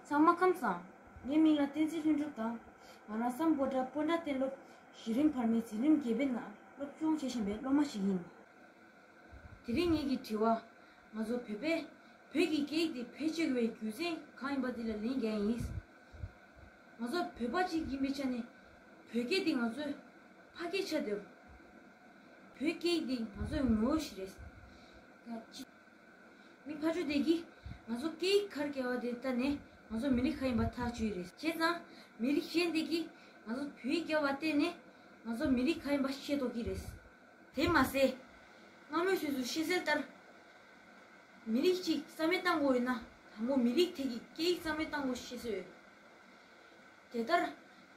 ཚང་མ་ཁམས་བཟང། ངའི་མིང་ལ་བསྟན་འཛིན་ལྷུན་གྲུབ་དང། ང་རང་སམ་པོ་ཏྲ Ponda སྟེ་སློབ་གཞི་རིམ་བར་མའི་འཛིན་རིམ་བརྒྱད་པའི་ནང་སློབ་སྦྱོང་བྱེད་བཞིན་པའི་སློབ་མ་ཞིག་ཡིན། དེ་རིང་ངེད་ཀྱིས་དྲི་བ། ང་ཚོ་བོད་པས་བོད་ཀྱི་སྐད་ཡིག་དེ་བེད་སྤྱོད་དགོས་པའི་རྒྱུ་མཚན་གང་ཡིན་པ་འདི་ལ་ལན་རྒྱག་ཡིན། ང་ཚོ་བོད་པ་གཅིག་ཡིན་པའི་ཆ་ནས། བོད་སྐད་འདི་ང་ཚོའི་ཕ་སྐད་ཆགས་འདོད། བོད་སྐད་འདི་ང་ཚོའི་ངོ་བོ་ཞིག་རེད། མི་ཕ་ཆོས་དད་ཀྱིས་ང་ཚོ་སྐད་ཡིག་ཁར་བསྐྱལ་བ་དེ་ལྟ་ནས་ང་ཚོ་མི་རིགས་ཁ་ཡིན་པ་ཐག་གཅོད་ཡི་རེད། བྱས་ཙང་མི་རིགས་གཞན་དེ་གིས་ང་ཚོ་བོད་ཡིག་བསྐྱལ་བ་བལྟས་ནས་ང་ཚོ་མི་རིགས་ཁ་ཡིན་པ་ཤེས་རྟོགས་ཀྱི་རེད། དེ་མ་ཟད། སྔ་མོའི་དུས་སུ་ཤེས་གསལ་ལྟར། མི་རིགས་གཅིག་རྩ་མེད་བཏང་དགོས་ཡོད་ན་དང་པོ་མི་རིགས་དེ་གི་སྐད་ཡིག་རྩ་མེད་བཏང་དགོས་ཤེས་གསལ་ཡོད། དེ་ལྟར།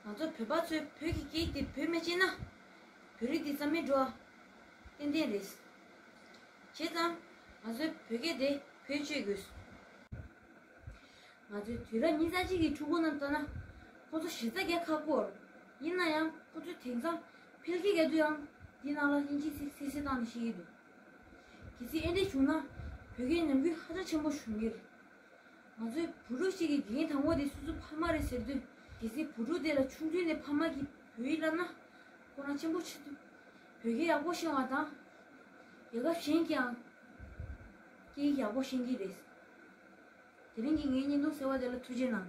ང་ཚོ་བོད་པ་ཚོས་བོད་ཀྱི་སྐད་ཡིག་དེ་བོད་མི་སྤྱད་ན། བོད་རིགས་འདི་རྩ་མེད་འགྲོ། ཏན་ཏན་རེད། བྱས་ཙང། ང་ཚོའི་བོད་སྐད་དེ་བེད་སྤྱོད་དགོས། ང་ཚོས་དུས་རབས་ཉིས་བརྒྱ་གཅིག་གི་ཕྲུ་གུ་རྣམས་ལྟ་ན། ཁོ་ཚོ་གཞི་རྩ་རྒྱ་ཁ་སྐོར། ཡིན་ན་ཡང་ཁོ་ཚོས་དེང་སང་ཕལ་སྐད་བརྒྱ་དུའང་འདི་ནང་ལ་དབྱིན་ཇིས་སིག་སིག་སིག་བཏང་ནས་བཤད་ཀྱི་འདུག། གལ་སྲིད་ཨེ་འདྲས་བྱུང་ན། བོད་སྐད་ཉམས་རྒུད་ཧ་ཅང་ཆེན་པོ་འབྱུང་གི་རེད། ང་ཚོའི་བུ་ཕྲུག་ཞིག་གིས་དེ་གཉིས་དང་པོ་དེ་སུ་སུ་ཕ་མ་རེད་ཟེར་དུས་གལ་སྲིད་བུ་ཕྲུག་དེ་ལ་ཆུང་དུས་ནས་ཕ་མ་གིས་བོད་ཡིག་བསླབས་ན། ཁོ་རང་ཆེན་པོ་ཆེ་དུས་བོད་སྐད་ཡག་པོ་ཤེས་བ་དང། རྒྱལ་ཁབ་གཞན་གྱིའང་སྐད་ཡིག་ཡག་པོ་ཤེས་ཀྱི་རེད། དེ་རིང་གི་ངའི་བརྙན་ཐུང་ཟེར་བ་དེ་ལ་ཐུགས་རྗེ་གནང།